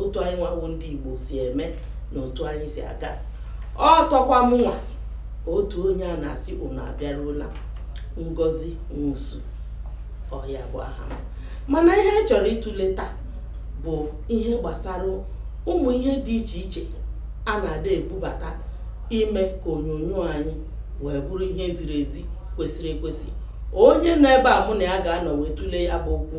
otu anyị nwa wụ ndị Igbo si eme na otu anyị si aga ọ tọkwa mụnwa otu onye a na-asị unu abịaruola Ngozi Nwosu ọ ya bụ aha m mana ihe a chọrọ ịtụle taa bụ ihe gbasara ụmụ ihe dị iche iche a na-adị ebubata ime ka onyonyo anyị wee bụrụ ihe ziri ezi kwesịrị ekwesị onye nọ ebe a mụ na ya ga-anọ wee tụlee ya bụ okwu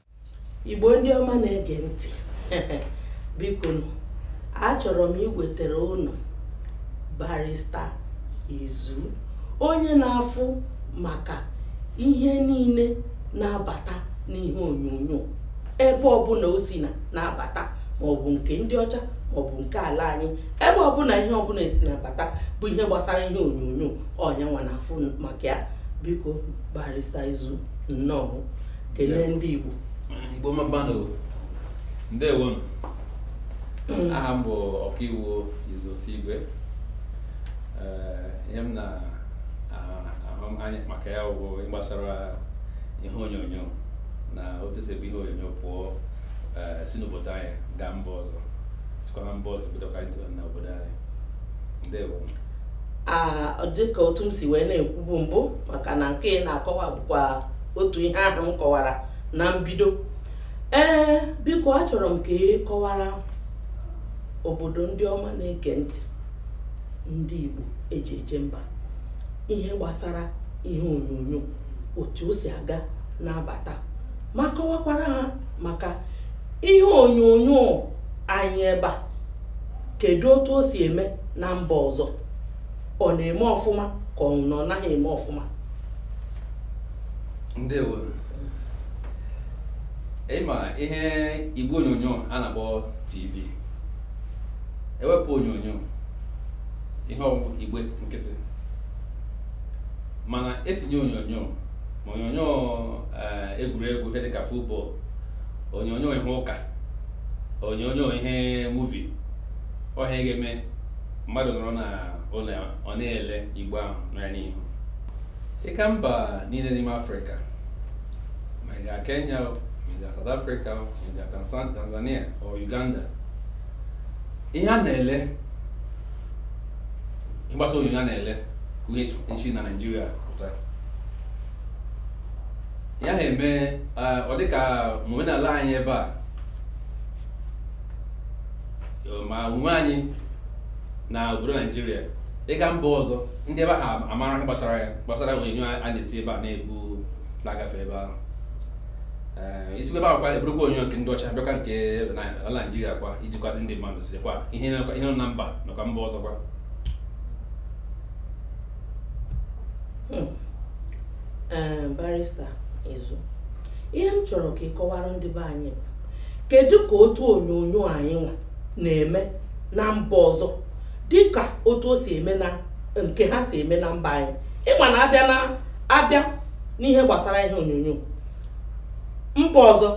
igbo ndị ọma na-ege ntị biko achọrọ m iwetara unu barista izu onye na-afụ maka ihe niile na-abata n'ihe onyonyo ebe ọbụla o si na-abata maọbụ nke ndị ọcha maọbụ nke ala anyị ebe ọbụla ihe ọbụla esi na-abata bụ ihe gbasara ihe onyonyo ọ yanwa na-afụ maka ya biko barista izu nnọọ kelee ndị Igbo Igbo mma mma nụ ndewo hmm. aha m bụ ọkaiwu Izu Osigwe eh, ihe m na-ahụ anya maka ya bụ ihe gbasara ihe onyonyo na otu e si ebu ihe onyonyo pụọ eh, si n'obodo anyị gaa mba ọzọ sikwa na mba ọzọ bidokwa na obodo anyị ndewo dịka otu m si wee na-ekwubu mbụ maka na nke ị na-akọwa bụkwa otu ihe ahụ m kọwara na mbido ee biko achọrọ m ka ị kọwara obodo ndị ọma na-ege ntị ndị Igbo eji eje mba ihe gbasara ihe onyonyo otu o si aga na-abata ma kọwakwara ha maka ihe onyonyo anyị ebe a kedu otu o si eme na mba ọzọ ọ na-eme ọfụma ka ọ na ọ naghị eme ọfụma ndewo ị ma ihe igbe onyonyo a na-akpọ tv ewepụ onyonyo ihe ọ wụ igbe nkịtị mana etinye onyonyo ma onyonyo eh, egwuregwu ihe dịka futbọl onyonyo ihe ụka onyonyo ihe muvi ọ ihe a ga-eme mmadụ nọrọ na ụlọ ya ọ na-ele igbe ahụ nọ ya n'ihu ị gaa mba niile n'ime afrịka ma ị gaa kenya o ma ị gaa south africa o ma ị gaa Tanzan- tanzania o uganda ihe a na-ele gbasara onyonyo a na-ele ka ihe ndị si na naijiria pụta ya na-eme ah, ọ dịka omenala anyị ebe a ma onwe anyị na obodo naijiria ịga mba ọzọ ndị ebe ahụ amara ihe gbasara ya gbasara onyonyo a na-esi ebe a na-ebu na-agafe ebe ahụ e sikwa ebe ahụ kwa e burukwa onyonyo nke ndị ọcha bịakwa nke ala naijiria kwa iji kwasị ndị mmadụ siri kwa ihe nọ na mba nakwa mba ọzọ kwa barista izu ihe m chọrọ ka ị kọwara ndị be anyị bụ kedu ka otu onyonyo anyị nwa na-eme na mba ọzọ dịka otu o si eme na nke ha si eme na mba anyị ị ma na a bịa na a bịa n'ihe gbasara ihe onyonyo mba ọzọ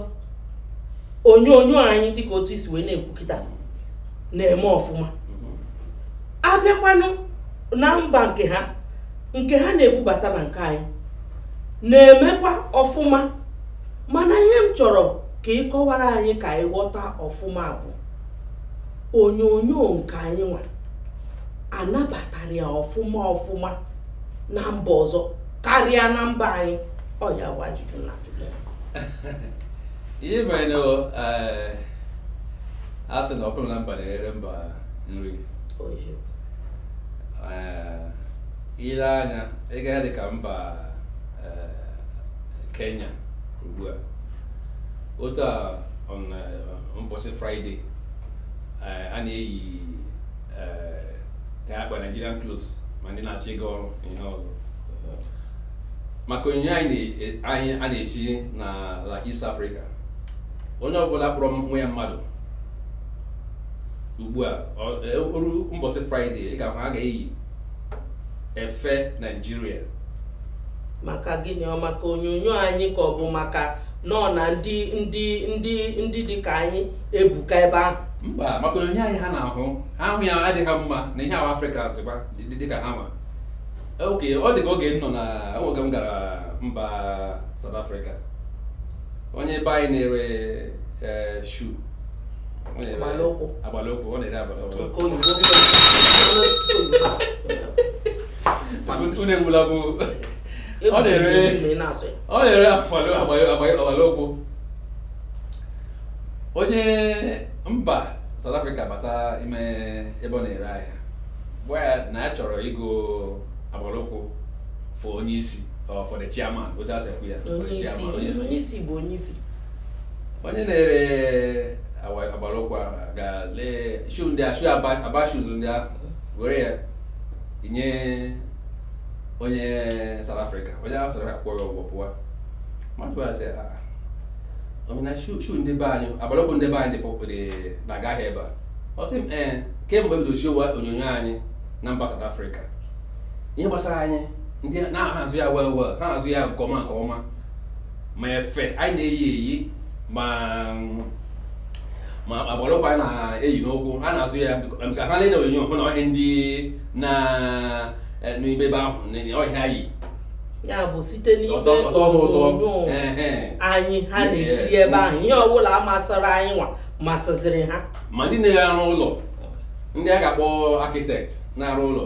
onyonyo anyị dịka otu i si wee na-ekwu kịta na-eme ọfụma a bịakwanụ na mba nke ha nke ha na-ebubata na nke anyị na-emekwa ọfụma mana ihe m chọrọ ka ị kọwara anyị ka anyị ghọta ọfụma bụ onyonyo nke anyị nwa a nabatara ya ọfụma ọfụma na mba ọzọ karịa na mba anyị ọ ya bụ ajụjụ na ajụjụ ihe mere na eh, a sị na nkụ dị na mba na-eghere mba nri eh, i lee anya ị gaa dị ka mba eh, Kenya ugbu a otu a mbọsị fraịde a na-eyi akwa Nigerian clothes ma ndị na-achọ ịga ọrụ ihe ọzọ maka onyonyo anyị a na-eji n'ala East Africa onye ọbụla kpọrọ onwe ya mmadụ ugbu a o ruo mbọsị fraịde ị ga-ahụ a ga-eyi efe naijiria maka gịnị ọ maka onyonyo anyị ka ọ bụ maka nọ na ndị ndị ndị ndị dị ka anyị ebuka ebe ahụ mba maka onyonyo anyị ha na-ahụ ha hụ ya ọ dị ha mma na ihe ahụ afrịka zikwa dị ka ha nwa okay ọ dị ka oge m nọ na oge m gara mba South Africa onye be anyị na-ere eh, shoe agbala ụkwụ agbala ụkwụ ọ na-ere agbala ụkwụ nke oyibo unu egbula bụ ọ na-ere ọ na-ere agbala ụkwụ onye mba South Africa bata ime ebe ọ na-ere ahịa gwa ya na ya chọrọ ịgo agbala ụkwụ for onye isi or for the chairman otu e si ekwu ya onye isi bụ onye isi onye na-ere agbalụkwụ ahụ ga lee shoe ndị a shoe Aba shoes ndị a were ya nye onye South Africa onye ahụ South Africa kwụọ ya ụgwọ pụwa mmadụ a sị ọ mean na shoe ndị be anyị agbalụkwụ ndị be anyị dị na-aga ahịa ebe a ọ sị m ee kemgbe bido showa onyonyo anyị na mba South Africa ihe gbasara anyị ndị na-azụ ya well well ha na-azụ ya nke ọma nke ọma ma efe anyị na-eyi eyi ma ma agbalụkwụ anyị na-eyi n'ụkwụ ha na-azụ ya ka ha na-ele onyonyo hụ na ọ ihe ndị nọ eh, n'ime ebe ahụ na ọ ihe ha yi ya bụ site n'ime Ọ tọ- ọ tọọ ha ụtọ. onyonyo Ehe. anyị ha na-ekiri ebe ahụ ihe ọbụla masịrị anyị nwa masịziri ha ma ndị na-arụ ụlọ ndị a ga-akpọ architect na-arụ ụlọ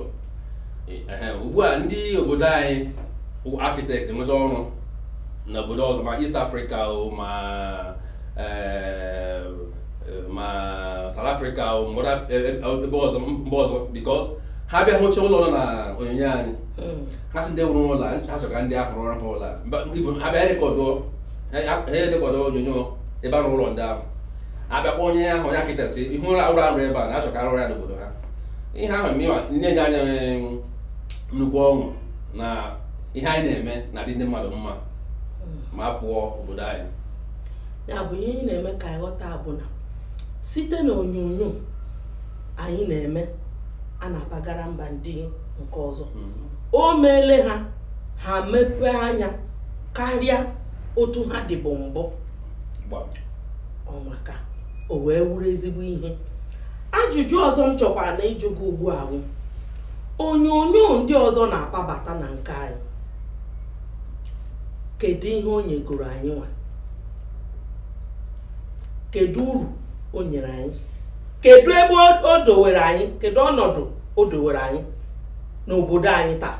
ugbu a ndị obodo anyị bụ architect enweta ọrụ na obodo ọzọ ma East Africa o ma eh, eh, ma South Africa o mgbada eh, eh, ebe ọzọ mba ọzọ because ha bịa hụcha ụlọ nọ na onyonyo anyị Mm. ha sị ndị rụrụ ụlọ a, ha chọrọ ka ndị ahụ rụọrọ ha ụlọ a. Mba- even ha bịa rekọdụ ha rekọdụ onyonyo ebe a rụrụ ụlọ ndị ahụ a bịa gwa onye ahụ onye architect sị ị hụla ụlọ a rụ ebe a na a chọ ka a rụọ ya n'obodo ha ihe ahụ na-enye anyị nnukwu ọṅụ na ihe anyị na-eme na-adị ndị mmadụ mma ma a pụọ obodo anyị ya bụ ihe anyị na-eme ka anyị ghọta bụ na site na onyonyo anyị na-eme a na-apagara mba ndị nke ọzọ mm-hmm. o meele ha ha mepee anya karịa otu ha dịbụ mbụ ọ maka o wee wụrụ ezigbo ihe ajụjụ ọzọ m chọkwara na ịjụ gị ugbu a bụ onyonyo ndị ọzọ na-akpabata na nke anyị kedu ihe o nyegoro anyị nwa kedu uru o nyere anyị kedu ebe o dowere anyị kedu ọnọdụ o dowere anyị n'obodo anyị taa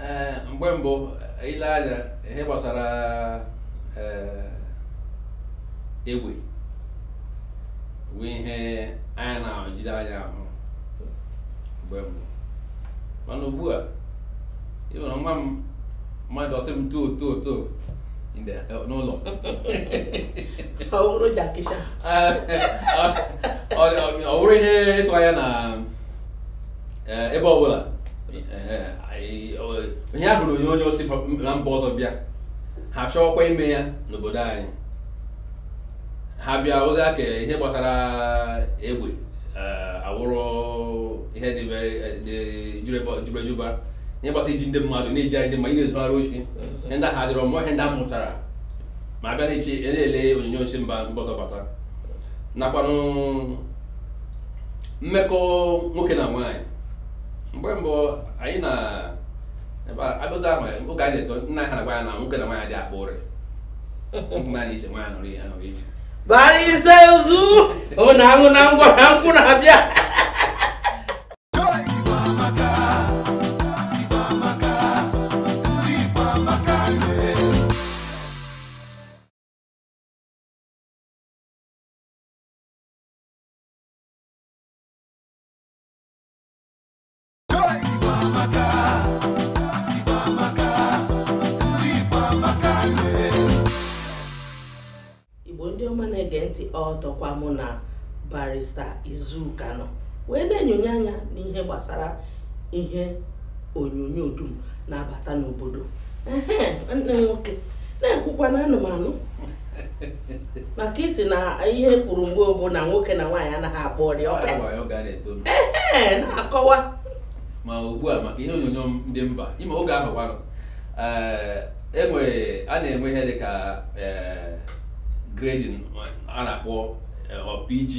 eh, mgbe mbụ i lee anya ihe gbasara eh, egbe bụ ihe anyị na-ejighị anya ahụ mgbe mbụ mana ugbu a ị hụrụ nwa mmadụ ọ sị m too too too n'ụlọ ọ wụrụ Jackie Chan ọ wụrụ ihe ịtụ anya na ebe ọbụla ihe ọ hụrụ n'onyonyo si na mba ọzọ bịa ha chọọkwa ime ya n'obodo anyị ha bịa ozi aka ihe gbasara egbe eh, horror ihe dị eh, jubejuba ihe gbasara iji ndị mmadụ na-eji anyị ndị mmadụ na-ezugharị oshi ihe ndị a adịrọ mbụ ihe ndị a mụtara ma abịa na-eche na-ele onyonyo si mba ndị ọzọ bata nakwanụ mmekọ nwoke na nwaanyị mgbe mbụ anyị na abụta ahụ oge anyị na-eto nna ha na-agwa anyị na nwoke na nwaanyị adị akpa ụrị nwaanyị iche nwaanyị nọrọ ya nọrọ iche barista izu ọ na-anwụ na ngwa na nkwụ na-abịa igbo ndị ọma na-ege ntị ọtọkwa mụ na barista izu ka nọ wee na-enyonye anya n'ihe gbasara ihe onyonyo dum na-abata n'obodo nwanne nwoke na-ekwukwa na ana m anụ maka ị sị na ihe e kwuru mgbe mbụ na nwoke na nwaanyị anaghị akpa ụrị ee na-akọwa ma ugbu a maka ihe onyonyo ndị mba ị ma oge ahụ gwarụ enwere e a na-enwe ihe dị ka e, grading a na-akpọ e, PG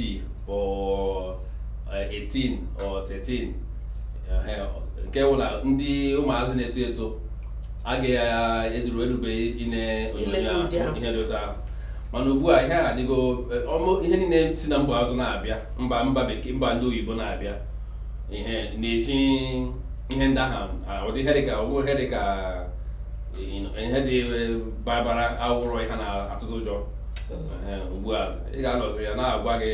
or 18 or 13 nke wụ na ndị ụmụazị na-eto eto a ga-eduru erubeghị ine onyonyo ahụ ihe dị otu ahụ mana ugbu a ihe a adịgo eh, ihe niile si na mba ọzọ na-abịa mba mba bekee mba ndị oyibo na-abịa ihe na-eji ihe ndị ahụ ụdị ihe dịka ọgwụ ihe dịka ihe dị eh, ọbara ọbara horror ihe na-atụtụ ụjọ hmm. eh, ugbu a ị ga-anọzi a na-agwa gị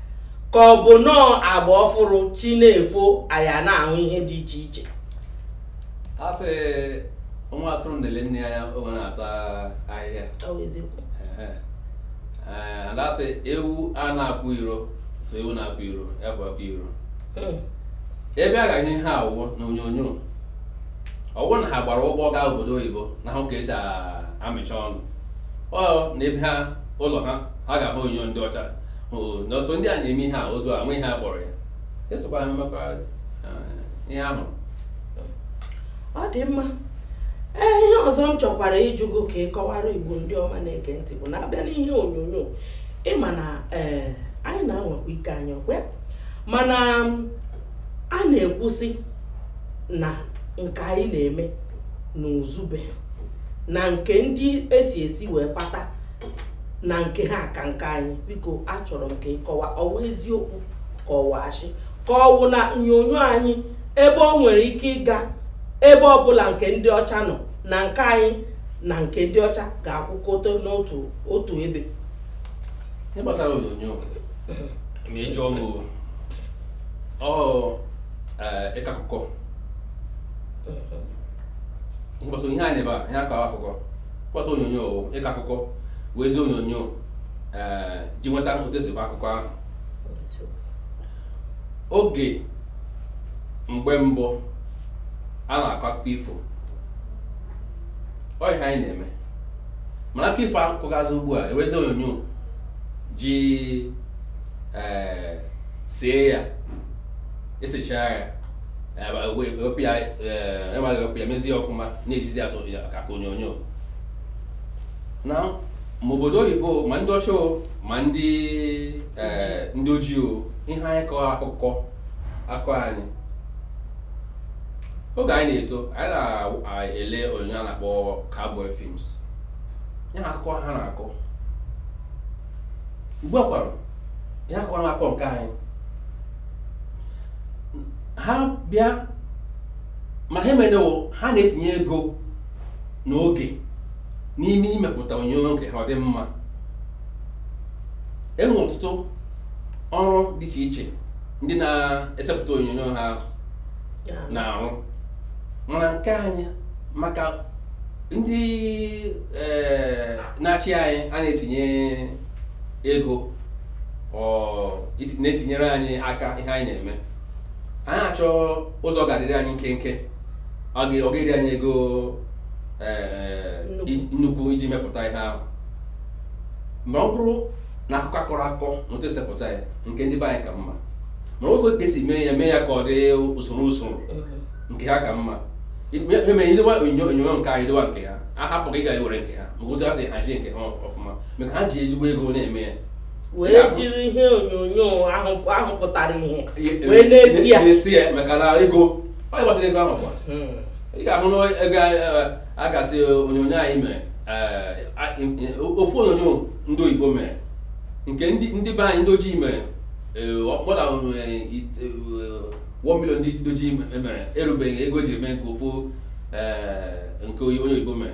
ka ọ bụ nọọ agba ọfụrụ chi na-efo anya na-ahụ ihe dị iche iche a sị nwa atụrụ na-ele nne ya oge ọ na-ata ahịhịa ada sị ewu a na-apụ iro so ewu na-apụ iro ya bụ apụ iro hmm. ebe a ga-ene ihe awụwọ na onyonyo ọ wụ na ha gbara ụgbọ gaa obodo oyibo na-ahụ ka e si amịcha ọnụ ọ na ebe ha ụlọ ha ha ga-ahụ onyonyo ndị ọcha n'ọsọ ndị a na-eme ihe a otu a nwe ihe a kpọrọ ya esokwa ha mekọrịta ihe ahụ ọ dị mma ee ihe ọzọ m chọkwara ịjụ gị ka ị kọwara igbo ndị ọma na-ege ntị bụ na a bịa n'ihe onyonyo ị ma na ee anyị na-anwakwa ike anyị ọkwa mana a na-ekwusị na nke anyị na-eme na uzube na nke ndị esi esi wee kpata na nke ha ka nke anyị biko achọrọ m ka ị kọwaa ọ wụ eziokwu ka ọ wụ asị ka ọ wụ na onyonyo anyị ebe o nwere ike ịga ebe ọbụla nke ndị ọcha nọ na nke anyị na nke ndị ọcha ga-akwụkọta n'otu otu ebe ihe gbasara onyonyo ma ị jụọ m ọ ịkọ akụkọ ihe gbasara ihe anyị ebe a ihe akọ akụkọ gbasara onyonyo ịkọ akụkọ wezie onyonyo ee eh, ji nweta otu esi bụ akụkọ ahụ oge mgbe mbụ a na-akọ akụkọ ifo ọ ihe anyị na-eme mana akụkọ ifo akụkọgazi ugbu a ewezi onyonyo ji ee eh, see ya esechaa ya ewepụ ya enweghị ewepụ ya mezie ọfụma na-ejizi asọ ya ka ka onyonyo na ma obodo oyibo ma ndị ọcha ma ndị ndị ojii ọ ihe anyị kọọ akụkọ akụkọ anyị oge anyị na-eto anyị na-ele onyonyo a na-akpọ cowboy films ihe akụkọ ha na-akọ ugbu a kwara ihe akụkọ na-akọ nke anyị ha bịa ma ha emenewo ha na-etinye ego na oge n'ime imepụta onyonyo nke ha ọ dị mma enwe ọtụtụ ọrụ dị iche iche ndị na-esepụta onyonyo ha na-arụ mana nke anyị maka ndị eh, na-achị anyị a na-etinye ego na-etinyere anyị aka ihe anyị na-eme anyị achọ ụzọ ga-adịrị anyị nkenke ọ ga-eri anyị ego eh, nnukwu iji mepụta ihe ahụ ma ọ bụrụ na akụkọ akọrọ akọ na otu esepụta ya nke ndị be anyị ka mma mana ka esi mee ya mee ya ka ọ dị usoro usoro nke ha ka mma emere i dewa onyonyo nke anyị dewa nke ha a hapụ ka ị ga-ewere nke ha maka otu ha si hazie nke ha ọfụma maka ha ji ezigbo ego na-eme ya wee jiri ihe onyonyo ahụ pụtara ihe wee na-ese ya na-ese ya maka na ego ọ gbasara ego ahụ kwa hmm. ị ga-ahụ na ego eh, a ga-asị onyonyo anyị mere eh, ofu onyonyo ndị oyibo mere nke ndị be anyị ndị ojii mere more than eh, one million ndị ojii e mere erubeghị ego ji eme nke ofu nke onye oyibo mere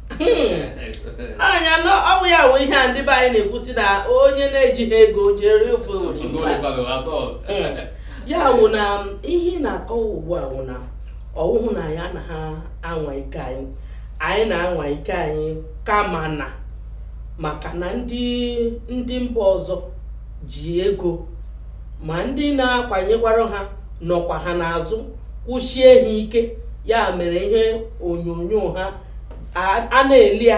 anya na ọ bụ ya wụ ihe a ndị be anyị na-ekwusi na onye na-ejighị ego ji eri ofe Owerri ibu a. ya wụ na ihe ị na-akọwa ugbu a wụ na ọ wụhụ na anyị anaha anwa ike anyị anyị na-anwa ike anyị kama na maka na ndị ndị mba ọzọ ji ego ma ndị na-akwanyekwara ha nọkwa ha n'azụ kwụsie ha ike ya mere ihe onyonyo ha a na-ele ya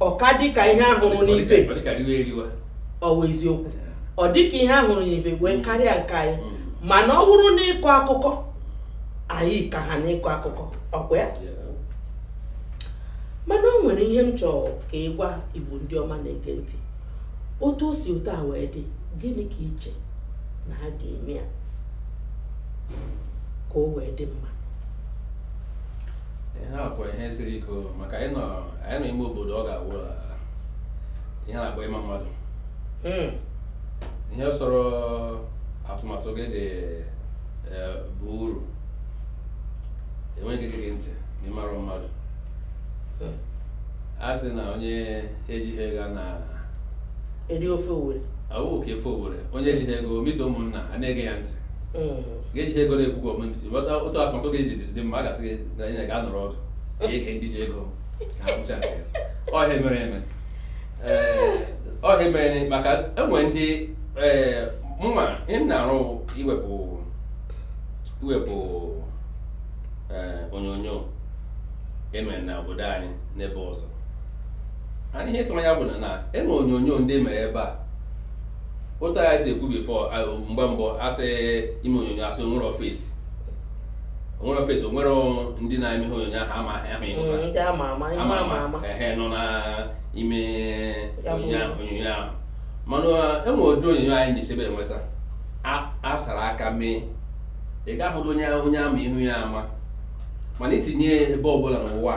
ọ ka dịka ihe a hụrụ n'ife ọ wụ eziokwu ọ dịka ihe a hụrụ n'ife wee karịa nke anyị mm. mana ọ bụrụ n'ịkọ akụkọ anyị ka ha n'ịkọ akụkọ ọ kwa ya mana o nwere ihe m chọrọ ka ị gwa Igbo ndị ọma na-ege ntị otu o si otu a wee dị gịnị ka i che na a ga-eme ya ka o wee dị mma ihe a kwa ihe siri ike o, maka anyị nọ anyị nọ ime obodo ọ ga-awụ ah, ihe a na-akpọ ịma mmadụ Hmm. ihe sọrọ atụmatụ gị dị eh, bụ uru enweghị ige gị ntị ma ị mara mmadụ Hmm. a sị na onye ejighị ego na-eri ofe Owerri. awụ ka ofe Owerri onye ejighị ego miso ụmụnna a na-ege ya ntị Hmm. gị ejighị ego na-ekwu gwa omemsi bata otu atụmatụ ga-eji dị mma a ga-asị gị na anyị ga-anọrọ ọdụ ga-ege ndị ji ego ka ha kwuchaa nke ya ọ ya mere eme ọ ya mere maka e nwere ndị ee mụnwa ị na-arụ iwepụ iwepụ ee onyonyo e mere na obodo anyị n'ebe ọzọ anyị ihe ịtụnanya bụ na e nwere onyonyo ndị mere ebe a otu anyị si ekwu before mgbe mbụ a sị ime onyonyo a sị o nwere faces o nwere faces o nwere ndị na-eme ihe onyonyo ahụ ama ahụ ihu ama ama ehe nọ n'ime onyonyo ahụ mana e nwere ụdị onyonyo anyị na-esebe enweta a sara aka mee ị ga-ahụrụ onye onye a ma ihu ya ama mana i tinye ebe ọbụla n'ụwa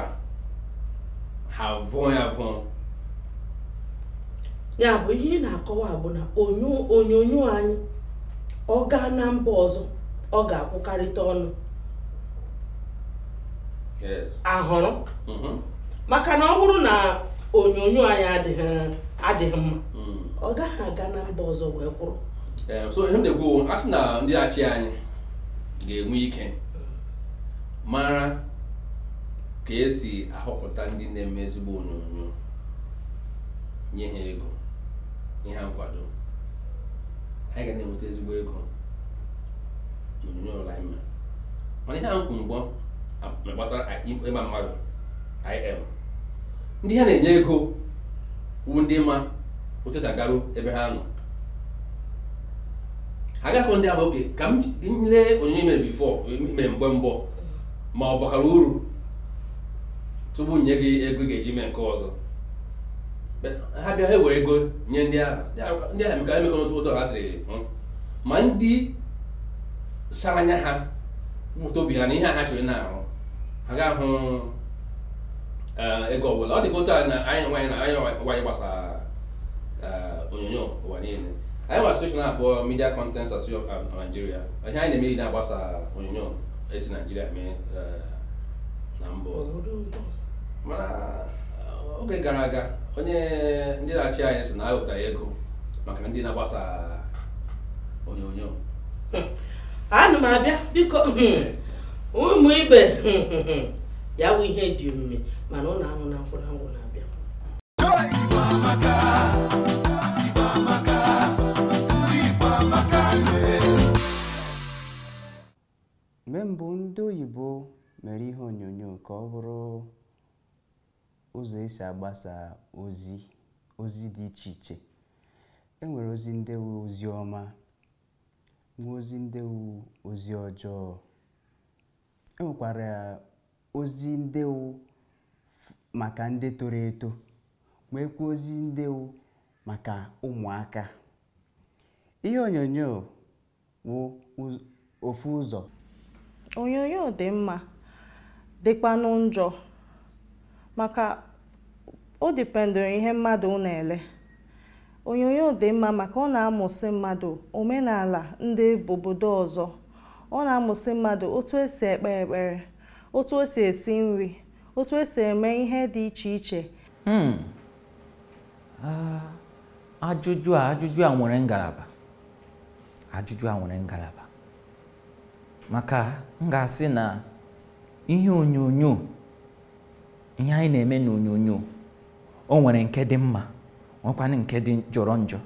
ha vụọ ya vụọ ya bụ ihe ị na-akọwa bụ na onyonyo anyị ọ gaa na mba ọzọ ọ ga-akwụkarịta ọnụ ahụrụ mm-hmm. maka na ọ bụrụ na onyonyo anyị adịghị mma mm. ọ gaghị aga na mba ọzọ wee kwụrụ eh, so ihe m na-ekwu a sị na ndị achị anyị ga-enwe ike mara ka esi ahọpụta ndị na-eme ezigbo onyonyo nye ha ego nye ha nkwado anyị ga na-enweta ezigbo ego n'onyonyo ọbụla anyị mere mana ihe ahụ kwuru mbụ gbasara ịma mmadụ IM ndị ha na-enye ego wu ndị ma otu esi agaru ebe ha nọ ha gakọ ndị ahụ okay ka m lee onyonyo mere before mere mgbe mbụ ma ọ bakara uru tupu nye gị ego ị ga-eji mee nke ọzọ but ha bịa ha ewere ego nye ndị ahụ ndị ahụ emeka emeka n'otu ụtọ ha siri hụ ma ndị sara anya ha mụta obi ha na ihe a ha chọrọ na-arụ ha ga-ahụ eh, ego ọbụla ọ dị ka otu a na anyị nwa na anyị nwa na-agbasa eh, onyonyo ụwa niile anyị nwere association a bụ Media Content Association of Nigeria ihe anyị na-eme na-agbasa onyonyo esi Nigeria mee eh, na mba ọzọ mana eh, oge gara aga onye ndị na-achị anyị sị na ha wetara ego maka ndị na-agbasa onyonyo ana m abịa biko ụmụ ibe ya bụ ihe dị omimi mana ụlọ anwụ na nkwụ na ngwọ na-abịa Mgbe mbụ ndị oyibo mere ihe onyonyo ka ọ bụrụ ụzọ esi agbasa ozi ozi dị iche iche e nwere ozi ndị wu ozi ọma nwee ozi ndị wu ozi ọjọọ e nwekwara ozi ndị wu maka ndị toro eto nweekwa ozi ndị wu maka ụmụaka ihe onyonyo wụ ofu ụzọ onyonyo dị mma dịkwanụ njọ maka o dependụrụ ihe mmadụ na-ele onyonyo dị mma maka ọ na-amụsị mmadụ omenala ndị obodo ọzọ ọ na-amụsị mmadụ otu esi ekpe ekpere otu esi esi nri otu esi eme ihe dị iche iche hmm. Ah, ajụjụ a ajụjụ a nwere ngalaba ajụjụ a nwere ngalaba maka m ga-asị na ihe onyonyo ihe anyị na-eme n'onyonyo o nwere nke dị mma nwekwanụ nke dị jọrọ njọ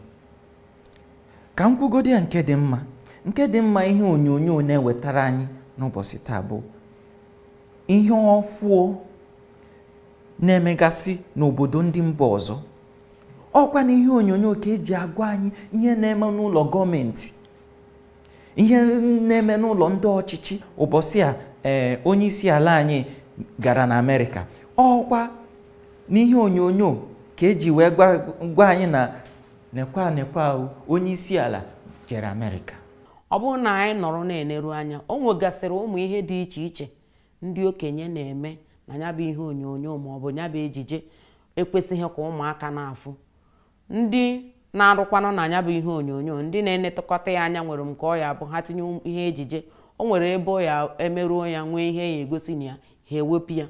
ka m kwugodi ya nke dị mma nke dị mma ihe onyonyo na-ewetara anyị n'ụbọchị taa bụ ihe ọfụọ na-emegasị n'obodo ndị mba ọzọ ọkwa na ihe onyonyo ka eji agwa anyị ihe na-eme n'ụlọ gọọmenti ihe na-eme n'ụlọ ndị ọchịchị ụbọchị a ee eh, onye isi ala anyị gara na amerịka ọkwa n'ihe onyonyo ka eji wee gwa anyị na nekwa nekwa onye isi ala jere amerịka ọ bụrụ na anyị nọrọ na-eneru anya o nwegasịrị ụmụ ihe dị iche iche ndị okenye na-eme na ya bụ ihe onyonyo ma ọ bụ ya bụ ejije ekwesịghị ka ụmụaka na-afụ ndị na-arụkwanụ na ya bụ ihe onyonyo ndị na-enetụkọta ya anya nwere nke ọ ya bụ ha tinye um, ihe ejije o nwere ebe ọ ya emeruo ya nwee ihe ya egosi na ya ha ewepụ ya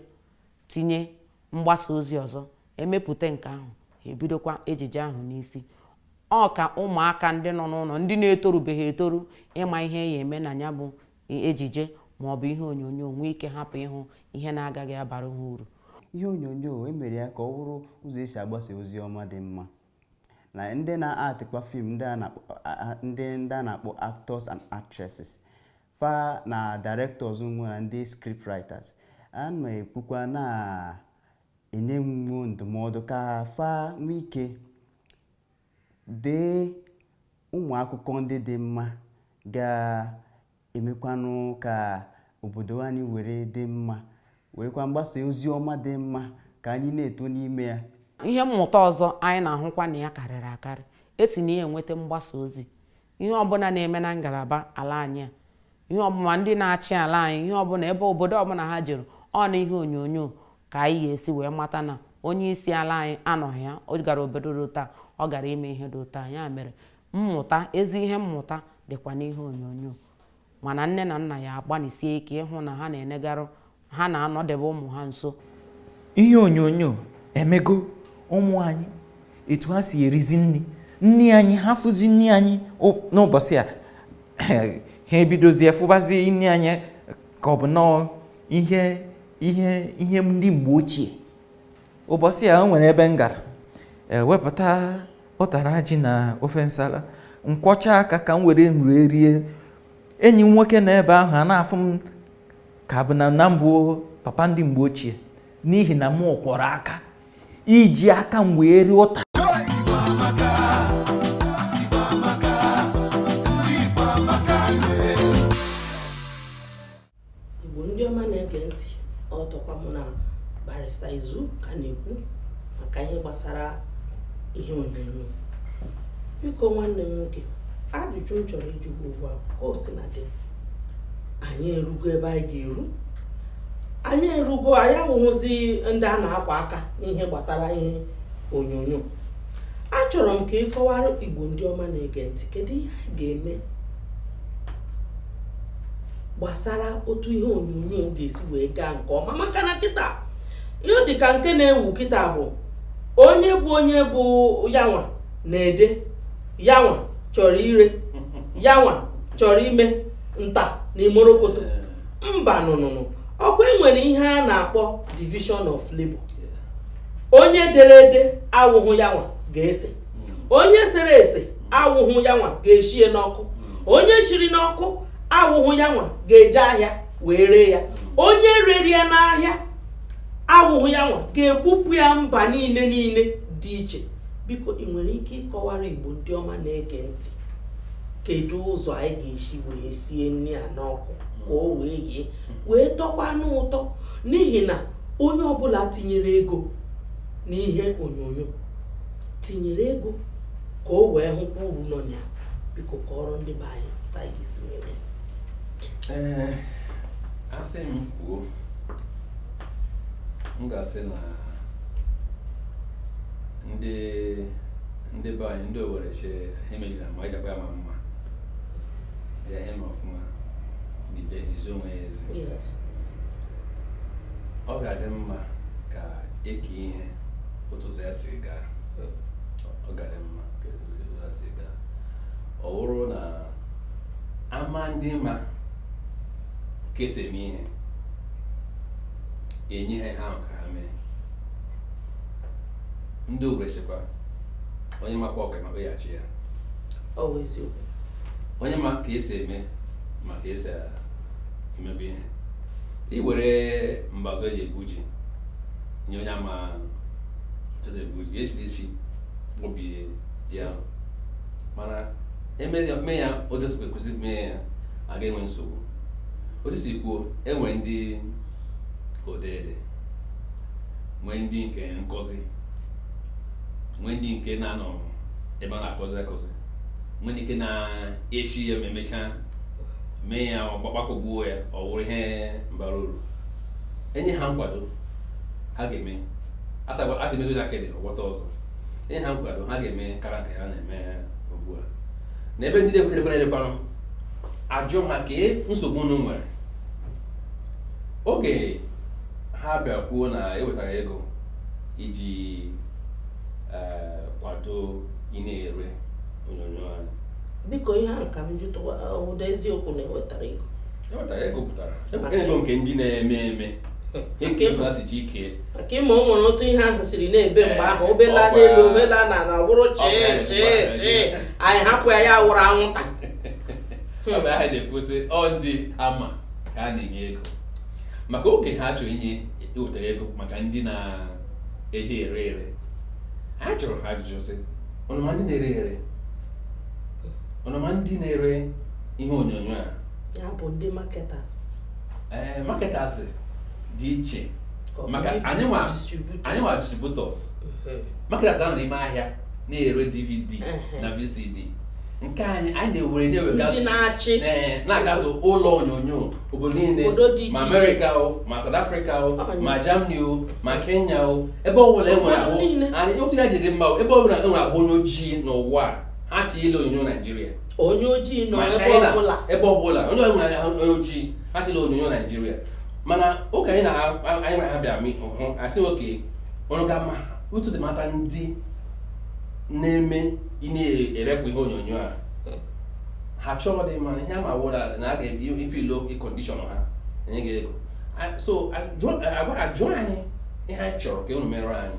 tinye mgbasa ozi ọzọ emepụta nke ahụ ha ebidokwa ejije ahụ n'isi ọ ka ụmụaka ndị nọ n'ụlọ ndị na-etorubeghị etoru ịma ihe ya eme na ya bụ ejije ma ọ bụ ihe onyonyo nwee ike hapụ ịhụ ihe na-agaghị abara ha uru ihe onyonyo emere ya ka ọ bụrụ ụzọ esi agbasa ozi ọma dị mma na ndị na-actịkwa film ndị ndị a na-akpọ actors and actresses fa na directors nwe na ndị script writers a na-ekwukwa na-enye wo ndụmọdụ ka fa nwee ike Dee ụmụ akụkọ ndị dị mma ga-emekwanụ ka obodo anyị were dị mma, werekwa mgbasa ozi ọma dị mma ka anyị na-eto n'ime ya. Ihe mmụta ọzọ anyị na-ahụkwa na ya karịrị akarị e si na ya enweta mgbasa ozi ihe ọbụla na-eme na ngalaba ala anyị a ihe ọbụla ndị na-achị ala anyị ihe ọbụla ebe obodo ọbụla ha jere ọ na ihe onyonyo ka anyị ga-esi wee mata na onye isi ala anyị anọghị ya ọ gara obodo dị otu a ọ gara ime ihe dị otu a ya mere mmụta ezi ihe mmụta dịkwa n'ihe onyonyo mana nne na nna ya agbanịsie ike ịhụ na ha na-enegarụ ha na-anọdebe ụmụ ha nso ihe onyonyo emego ụmụ anyị etu ha si erizi nri nri anyị ha fụzi nri anyị o- n'ụbọchị a ha ebidozie fụbazie nri anyị ka ọ bụ nnọọ ihe ihe ihe ndị mgbe ochie ụbọchị a o nwere ebe m gara e wepụta ụtara ji na ofe nsala m kwọchaa aka ka m were nri rie enyi m nwoke nọ ebe ahụ ana-afụ m ka ọ bụ na na m bụ papa ndị mgbe ochie n'ihi na m kwọrọ aka iji aka m wee rie ụtara Igbo ndị ọma na-ege ntị ọ tọkwa mụ na barista izu ka na-ekwu maka ihe gbasara ihe onyonyo biko nwanne m nwoke ajụjụ m chọrọ ịjụ gị ugbu a ka o si na dị anyị erugo ebe anyị ga-eru anyị erugo anyị awụhụzi ndị a na-akwa aka n'ihe gbasara ihe onyonyo achọrọ m ka ị kọwara igbo ndị ọma na-ege ntị kedu ihe anyị ga-eme gbasara otu ihe onyonyo ga-esi wee gaa nke ọma maka na kịta ihe dị ka nke na-ewu kịta bụ onye bụ onye bụ yanwa na-ede yanwa chọrọ ire yanwa chọrọ ime nta na imorokoto mba nụnụnụ ọ kwa e nwere ihe a na-akpọ division of labor onye dere ede awụhụ yanwa ga-ese onye sere ese awụhụ ya nwa ga-eshie n'ọkụ onye shiri n'ọkụ awụhụ ya nwa ga-eje ahịa wee ree ya onye rere ya n'ahịa awụhụ ya nwa ga-ebupụ ya mba niile niile dị iche biko ị nwere ike ịkọwara igbo ndị ọma na-ege ntị kedu ụzọ anyị ga-esi wee sie nri a n'ọkụ ka o wee yee wee tọkwa n'ụtọ n'ihi na onye ọbụla tinyere ego n'ihe onyonyo tinyere ego ka o wee hụkwa uru nọ na ya biko kọọrọ ndị be anyị otu anyị ga-esi wee mee ee asị m kwuo m ga-asị na ndị ndị be anyị ndị owere shị ha emejila ma anyị dakwa ya ma mma ya ihe ma ọfụma n'ije izo onwe ya ezi ọ ga-adị mma ka e kee ihe otu ụzọ ya si gaa ọ ga-adị mma ka otu ya si gaa ọ bụrụ na a ma ndị ma ka e si eme ihe e nye ha ihe ahụ ka ha mee ndị owere shịkwa onye makwa ọka ma kpeghachi ya ọ bụ eziokwu onye ma ka e si eme ma ka e si emebe ihe i were mbazụ e ji egwu ji nye onye ama otu esi egbu ji esi esi obi ji ahụ mana eme ya otu esi kwesị mee ya a ga-enwe nsogbu otu si kwuo enwe ndị odeede nwee ndị nke nkụzi nwee ndị nke na-anọ ebe a na-akụzi akụzi nwee ndị nke na-eshi ya ma emechaa mee ya ọgbakọgbuo ya ọ wụrụ ihe bara uru enye ha nkwado ha ga-eme asị mezie ya kedị ọgbọta ọzọ enye ha nkwado ha ga-eme kara nke ha na-eme ugbu a na ebe ndị na-ekwerekwere elekwanụ ajụ ha kee nsogbu unu nwere oge ha bịa kwuo na ewetara ego iji eh, kwado ndị na-ere onyonyo anyị biko ihe a ka m jụtụwa ụda eziokwu na ewetara ego maka ịma o nwere otu ihe ahụ siri na-ebe mgbe ahụ o bela n'elu o bela n'ala ọ wụrụ chee chee chee anyị hapụ ya ya wụrụ anwụnta ọ bụ ihe a na-ekwusi ọ ndị ama ka a na-enye ego maka oge ha chọrọ inye ewetara ego maka ndị na-eji ere ere ha jụrụ ha ajụjụ sị unu ma ndị na-ere ere unu ma ndị na-ere ihe onyonyo a ya bụ ndị marketers ee eh, marketers dị iche maka anyị wụ distributors mhm. marketers na-anọ n'ime ahịa na-ere dvd na vcd nke anyị anyị na-ewere na-ewegachị na-agatụ ụlọ onyonyo obodo niile ma amerịka o ma South Africa o ma Germany o ma Kenya o ebe ọbụla enwere ahụ anyị otu ya ji dị mma ebe ọbụla enwere ahụ onye ojii n'ụwa ha chọ ile onyonyo Naijiria onye ojii nọ ebe ọbụla onye ọbụla ya onye ojii ha chọ ile onyonyo naijiria mana oge anyị na anyị na ha bịa hụ asị okay ọrụ ga ma otu dị mata ndị na-eme ndị na-erepụ ihe onyonyo a ha chọrọ dị mma ihe ama wụra na a ga-efulfill condition ha enye gị ego so agwa ajụ anyị ihe anyị chọrọ ka unu mere anyị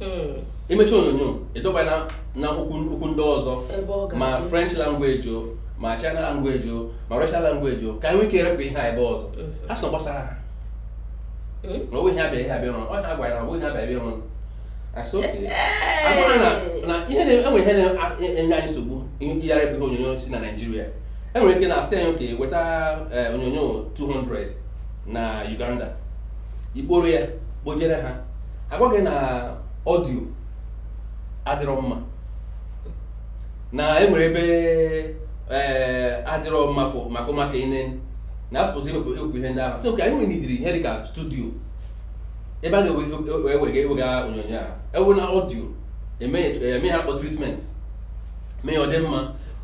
hmm. imechi onyonyo ịdub ya na na okwu ndị ọzọ ma french language o ma china language o ma russian language o ka anyị nwee ike erepụ ihe a ebe ọzọ hmm. ha sị na ọ gbasaghị ha hmm? na onwe ihe abịa ihe abịa rụrụ ọ na-agwa ya na onwe ihe abịa abịa rụrụ asị okay agwara na ihe na-enwe ihe na-enye anyị nsogbu iyigharị bụ ihe onyonyo si na naijiria enwere ike na-asị anyị okay weta eh, onyonyo 200 na Uganda ị kpọrọ ya kpọjere ha agwa gị na ọdio adịrọ mma na e nwere ebe eh, adịrọ mma maka ụmụaka ine na asụpụsị ewepụ ewepụ ihe ndị ahụ so ka anyị nwere ụdịrị ihe dịka studio ebe a ga-ewega ewega onyonyo a ewe na ọdio eme ihe a kpọ treatment mee ya ọ dị mma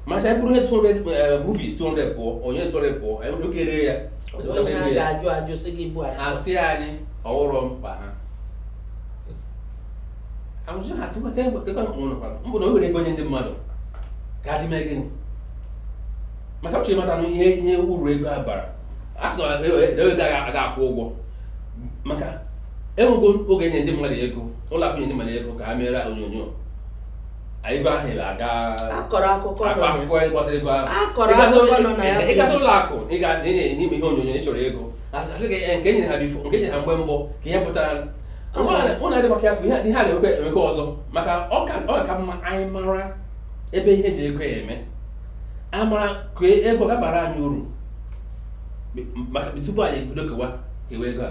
ma a sị anyị buru ihe 200 movie 200 pụọ onye 200 pụọ anyị nwere ike ree ya ha si anyị ọwụrụ mkpa ha amụsị ha akụ maka egbe kekọrọ mkpụrụ nọkwara mbụ na e were ego nye ndị mmadụ ka ha ji mee gịnị maka uche mata ihe ihe uru ego a bara a sị na ego a ga-akwụ ụgwọ maka e nwego oge nye ndị mmadụ ego ụlọ akụ nye ndị mmadụ ego ka ha meere onyonyo ego ahụ ị a ga-akọrọ akụkọ akọ akụkọ anyị gbasara ego ahụ akọrọ akụkọ nọ na ya ị gasị ụlọ akụ ị ga ị na-enye ime ihe onyonyo ị chọrọ ego a sị gị eh, nke e nyere ha before nke e nyere ha mgbe mbụ ka ihe pụtara mụ na-adị maka afọ ihe a ga-emekwa emekwa ọzọ maka ọ ka mma anyị mara ebe ihe e ji ego ya eme a mara ka e, ego ga-abara anyị uru maka tupu anyị ebido kewa kewa ego a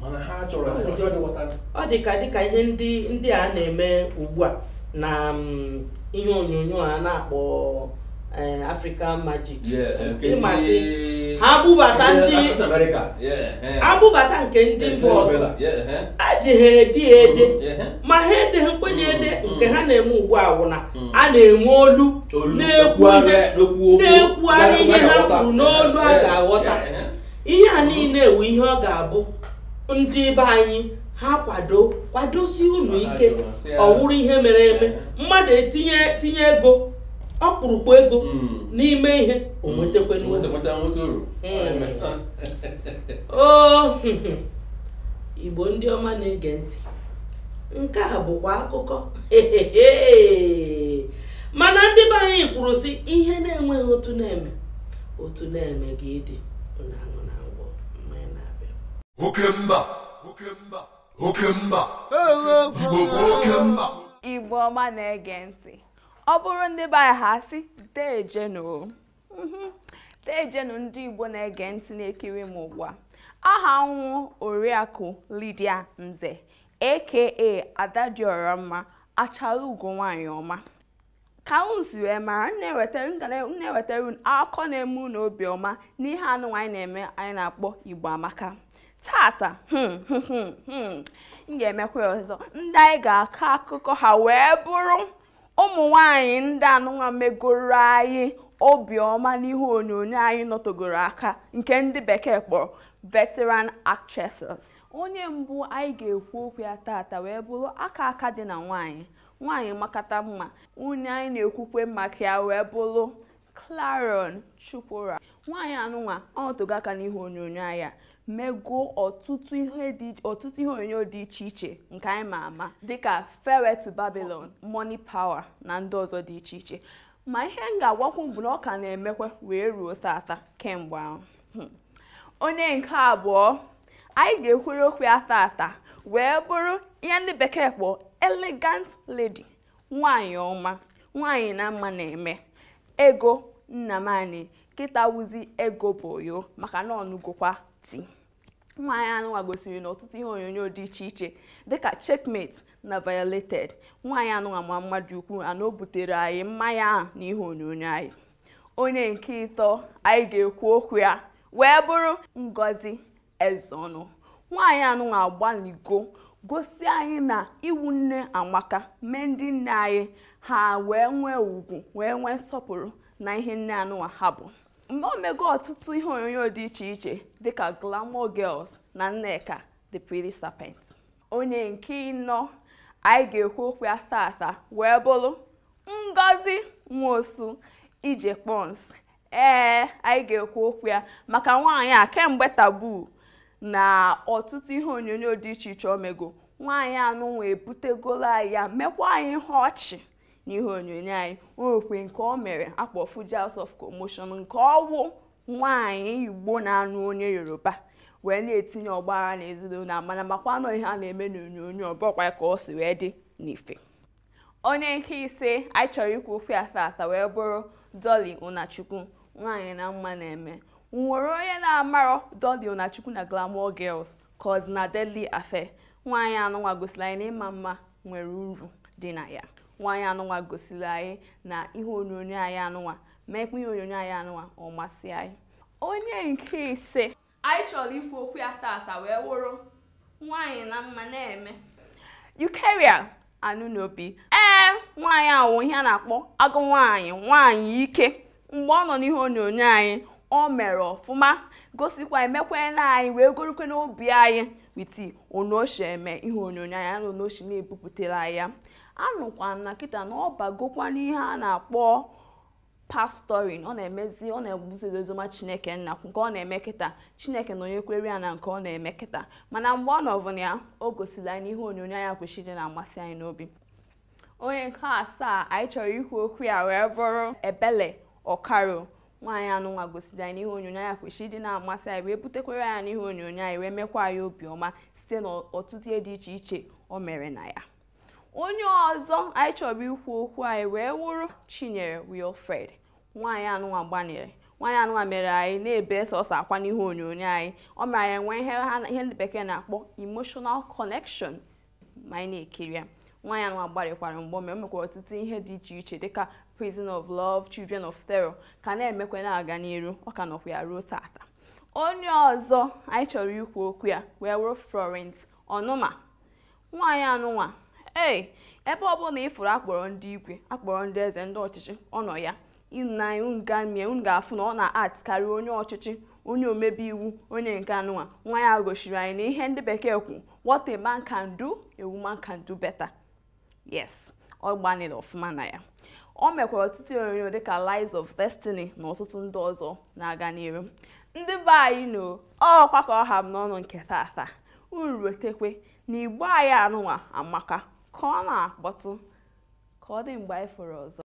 mana ha chọrọ ha kwesịrị ọdị ghọta ọ dị ka dịka ihe ndị ndị a na-eme ugbu a na mm, ihe onyonyo a na-akpọ eh, African Magic Yeah, eh, nke ị ma sị ndị- ha bubata ndị ndị Latin America. Yeah, eh. ha bubata nke ndị mba ọzọ Yeah, eh. e ji ha ede ya ede Yeah, eh. ma ha edeghịkwanụ ya ede Mm, nke mm. ha na-eme ugbu a wụ na Mm. a na-enwe olu Olu na-ekwu ihe na-ekwugharị ihe ha kwuru n'olu a ga-aghọta ihe a niile a wụ ihe ọ ga-abụ ndị be anyị ha kwado kwadosi unu ike ọ wụrụ ihe mere eme mmadụ etinye tinye ego ọkpụrụkpụ ego hmm. n'ime ihe o nwetakwa hmm. Igbo ndị ọma na-ege ntị nke a bụkwa akụkọ mana ndị be anyị kwuru sị ihe na-enweghị otu na-eme otu na-eme gị ịdị onye anụ na ngwọ mmanya na-abịa oke mba oke mba oke mba igbo bụ oke mba igbo ọma na-ege ntị ọ bụrụ ndị be anyị ha asị deejenu mhm. deejenu ndị igbo na-ege ntị na-ekiri m ugbu a aha m wụ oriakụ Lydia Nze aka Ada Dịọramma achala ugo nwanyị ọma ka unu si wee mara m na-ewetara unu akụkọ na-eme unu obiọma n'ihe anụnwa anyị na-eme anyị na-akpọ igbo amaka tata m ga-emekwa ya ọzọ ndị anyị ga-akọ akụkọ ha wee bụrụ ụmụ nwanyị ndị anụnwa megoro anyị obiọma n'ihe onyonyo anyị nọtogoro aka nke ndị bekee kpọrọ veteran actresses onye mbụ anyị ga-ekwu okwu ya tata wee bụrụ aka aka dị na nwaanyị nwaanyị makata mma onye anyị na-ekwukwe maka ya wee bụrụ Clarion Chukwura nwaanyị anụnwa anọtogo aka n'ihe onyonyo anyị mego ọtụtụ ihe onyonyo dị iche iche nke anyị ma ama dịka Farewell to Babylon Money Power na ndị ọzọ dị iche iche ma ihe m ga-agwakwu bụ na ọ ka na-emekwa wee ruo tata kemgbe ahụ onye nke abụọ anyị ga-ekwuru okwu ya tata wee bụrụ ihe ndị bekee kpọrọ elegant lady nwanyị ọma nwanyị na mma na-eme Ego Nnamani kịta wụzi Ego Boyo maka na ọ nụgokwa di nwaanyị anụnwa gosiri na ọtụtụ ihe onyonyo dị iche iche dịka Checkmate na Violated nwaanyị anụnwa ma mma dị ukwu ana o butere anyị mma ya ahụ na ihe onyonyo anyị onye nke ịtọ anyị ga-ekwu okwu ya wee bụrụ Ngozi Ezeonu nwaanyị anụnwa agbaligo gosi anyị na ịwụ nne amaka mee ndị nne anyị ha wee nwee ugwu wee nwee nsọpụrụ na ihe nne anụnwa ha bụ mgbe o mego ọtụtụ ihe onyonyo dị iche iche dịka Glamour Girls na Nneka the Pretty Serpent onye nke ịnọ anyị ga-ekwu okwu ya tata wee bụrụ Ngozi Nwosu Ije Kpons ee anyị ga-ekwu okwu ya maka nwaanyị a kemgbe Taboo na ọtụtụ ihe onyonyo dị iche iche o mego nwaanyị anụnwa ebutegolo anyị ya mekwa anyị ihe ọchị na ihe onyonyo anyị o nwekwe nke o mere akpọ Fuji House of Commotion nke ọ wụ nwaanyị igbo na-anụ onye yoruba wee na-etinye ọgbaghara n'ezinụlọ a mana makwa na ọ ihe a na-eme n'onyonyo ọ bụkwa ka o si wee dị n'ife onye nke ise anyị chọrọ ikwu okwu ya tata wee bụrụ Dolly Unachukwu nwaanyị na mma na-eme nwere onye na-amarọ Dolly Unachukwu na Glamour Girls cause na Deadly Affair nwaanyị anụnwa gosiri anyị na ịma mma nwere uru dị na ya nwaanyị anụnwa gosiri anyị na ihe onyonyo anyị anụnwa meekwa ihe onyonyo anyị anụnwa ọ masị anyị onye nke isii Anyị chọrọ ikwu okwu ya tata wee wụrụ nwaanyị na mma na-eme. Eucharia Anunobi. Ee, nwaanyị a wụ ihe a na-akpọ agụ nwaanyị nwaanyị ike mgbe ọ nọ n'ihe onyonyo anyị o mere ọfụma gosikwa mekwa na anyị wee gorukwe n'obi anyị with onoshi eme ihe onyonyo anyị na onoshi na-ebupụtara ya anụkwa m na kịta na ọ bagokwa n'ihe a na-akpọ pastoring ọ na-emezi ọ na-ebuzi oziọma Chineke Nna nke ọ na-eme kịta Chineke nọnyekwere ya na nke ọ na-eme kịta mana mgbe ọ nọbu na ya o gosiri anyị n'ihe onyonyo ya kwesịrị ịdị na-amasị anyị n'obi onye nke asaa anyị chọrọ ikwu okwu ya wee bụrụ Ebele Okaro nwaanyị anụnwa gosiri anyị n'ihe onyonyo ya kwesịrị ịdị na-amasị anyị wee butekwere ya n'ihe onyonyo anyị wee mekwa anyị obiọma site n'ọtụtụ ihe dị iche iche o mere na ya onye ọzọ anyị chọrọ ikwu okwu ya wee wụrụ Chinyere Wilfred nwaanyị anụnwa gbanịrị nwaanyị anụnwa mere anyị na-ebe sọsọ akwa n'ihu onyonyo anyị o mere anyị nwee ihe ndị bekee na-akpọ emotional connection ma anyị na-ekiri ya nwaanyị anụnwa gbalịkwara mgbe o me o mekwara ọtụtụ ihe dị iche iche dịka Prison of Love Children of Terror ka na-emekwa na-aga n'iru ọ ka nọkwa ya ruo tata onye ọzọ anyị chọrọ ikwu okwu ya wee wụrụ Florence Onuma nwaanyị anụnwa ee ebe ọbụla ị fụrụ a kpọrọ ndị igwe a kpọrọ ndị eze ndị ọchịchị ọ nọ ya ịna unu gamie unu ga-afụ na ọ na-act karịa onye ọchịchị onye omebe iwu onye nke anụnwa nwaanyị a gosiri anyị na ihe ndị bekee kwu what a man can do a woman can do better yes ọ gbanịrị ọfụma na ya o mekwara ọtụtụ onyonyo dịka Lies of Destiny na ọtụtụ ndị ọzọ na-aga n'iru ndị be anyị no ọkwa ka ọ ha m n'ọnụ nke tata unu rotekwe na Igbo anyị anụnwa amaka ka ọ na-akpọtụ ka ọ dị mgbe anyị fụrụ ọzọ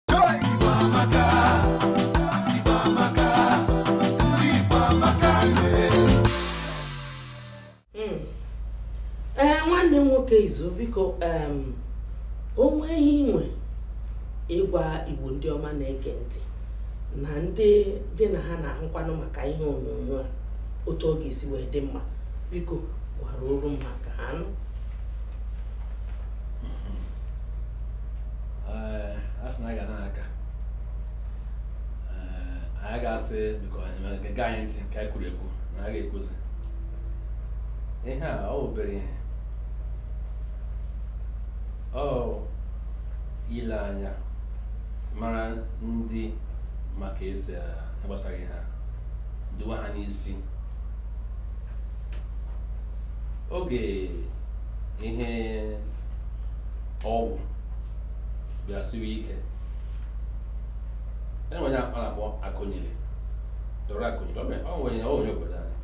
Mm. ee nwanne m nwoke Izu biko em, o nwee ihe i nwere ịgwa Igbo ndị ọma na-ege ntị na ndị gị na ha na-ahụkwanụ maka ihe onyonyo a otu ọ ga-esi wee dị mma biko gwara oru m ka ha nụ a sị na aga na-aka anyị ga-asị biko gee anyị ntị ka anyị kwuru ekwu na a ga-ekwuzi ihe a ọ bụ obere ihe ọ ile anya mara ndị maka esi gbasara ihe a duwa ha n'isi oge ihe ọgwụ bịa siwe ike enwere onye a na-akpọ Akunyili Dora Akunyili ọ bụ onye onye obodo anyị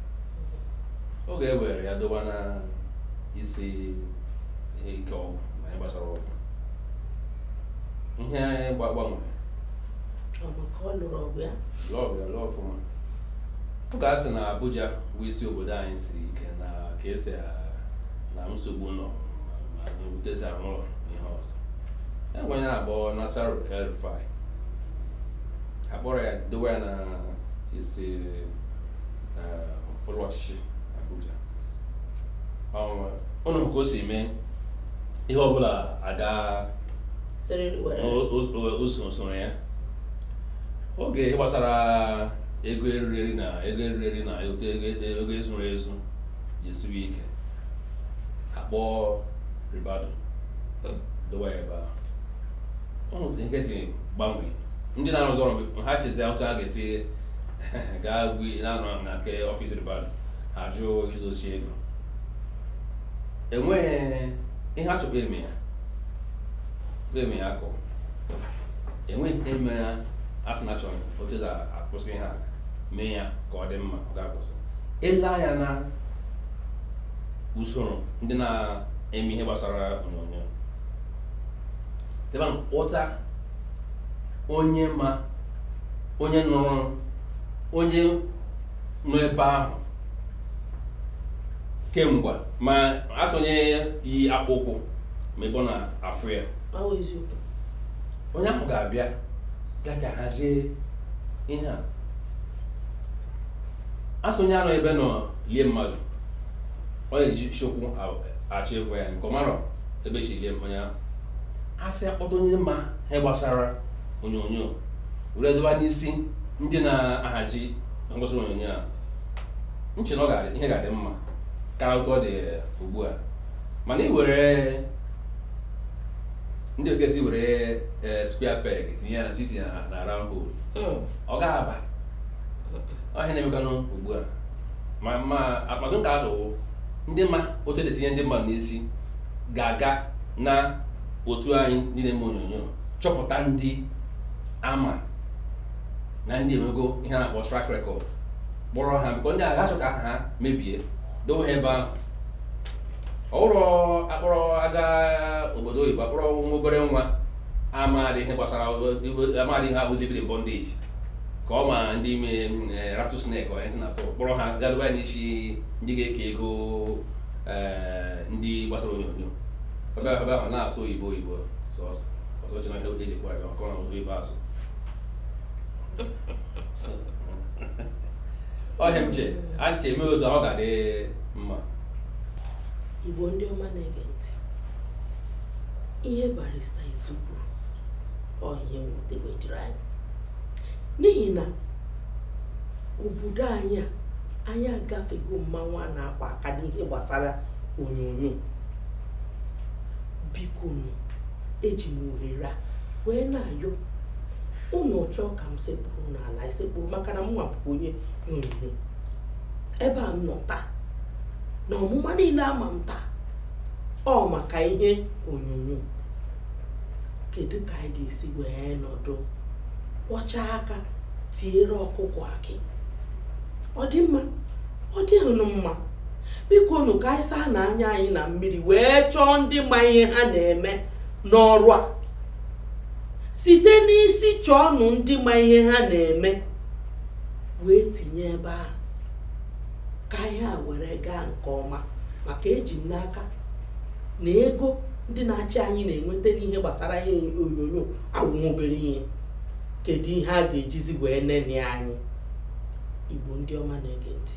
oge e were ya doba na isi ike ọgwụ na ihe gbasara ọgwụ ihe anyị gbanwere lụọ ya lụọ ọfụma Ụka asị na Abuja bụ isi obodo anyị siri ike na ka esi na nsogbu nọ n'otu esi arụ ụlọ ihe ọzọ enwere onye a bụ Nasir El-Rufai akpọrọ ya dowe ya na isi ụlọ ọchịchị Abuja ụnụ fụ ka o si mee ihe ọbụla aga usoro ya oge ihe gbasara ego eriri eri na ego eriri eri na ego ezuru ezu ji esiwe ike akpọ ribadu dowa ya ebe ahụ ọ nwere nke si gbanwee ndị na-arụzi ọrụ bụ ha chezie otu ha ga-esi gaa gwi na-anọ ahụ na nke ọfịs ribadu ha jụọ izochi ego enweghị ihe a chọkwa eme ya eme ya akọ enweghị nke mere asị na achọrọ otu esi akwụsị ha mee ya ka ọ dị mma ọ ga-akwụsị ele anya na usoro ndị na-eme ihe gbasara onyonyo ebe ahụ kpọta onye ma onye nọrọ onye nọ ebe ahụ kemgbe ma asị onye yi akpụkwụ ma ebe ọ na-afụ ya onye ahụ ga-abịa ya ka hazie ihe a asị onye anọrọ ebe a nọ lie mmadụ ọ na-esi ụkwụ achọ ivu ya maka ọmarọ ebe esi lie onye ahụ asị akpọta onye ma ihe gbasara onyonyo were doba n'isi ndị na-ahazi ngosi onyonyo a m che na ihe ga-adị mma karịa otu ọ dị ugbu a mana ị were ndị bekee sị were eh, square peg tinye ya na chitinye na round hole hmm. ọ ga-aba ọ bụ ihe na-emekanụ ugbu a ma ọdụ m ga-adụ bụ ndị ma otu esi etinye ndị mmadụ n'isi ga-aga na otu anyị ndị na-eme onyonyo chọpụta ndị ama na ndị enwego ihe a na-akpọ track record kpọrọ ha because ndị a agaghị achọ ka ha mebie dowe ebe ahụ ọhụrụ akpọrọ aga obodo oyibo akpọrọ nwa obere nwa amaghị ihe gbasara amaghị ihe bụ living in bondage ka ọ ma ndị me eh, rattlesnake onye si na-atụ kpọrọ ha ga doba n'isi ndị ga-eke ego eh, ndị gbasara onyonyo ebe ahụ ebe ahụ na-asụ oyibo oyibo sọsọ ọsọ ji na ihe eji kpọrọ ya maka ọ na oyibo asụ ọ ihe m che a che eme otu ọ ga-adị mma igbo ndị ọma na-ege ntị ihe barista izu kwuru ọ ihe mwute wee dịrị anyị n'ihi na obodo anyị a anyị agafego mmanwụ a na-akwa aka n'ihe gbasara onyonyo biko nụ eji m ohere a wee na-ayọ ụnụ chọọ ka m sekpuru n'ala esekpuru maka na m nwa bụ onye onyonyo ebe a m nọ taa na ọmụma niile ama m taa ọ maka ihe onyonyo kedu ka anyị ga-esi wee nọdụ kwọcha aka tiere ọkụkọ akị ọ dị mma ọ dịghị mma biko nụ ka anyị saanụ anya anyị na mmiri wee chọọ ndị ma ihe ha na-eme n'ọrụ a site n'isi chọọnụ ndị ma ihe ha na-eme wee tinye ebe ahụ ka ihe a were gaa nke ọma maka eji m n'aka na ego ndị na-achị anyị na-enweta n'ihe gbasara ihe onyonyo awụ obere ihe kedu ihe a ga-ejizi wee neni anyị igbo ndị ọma na-ege ntị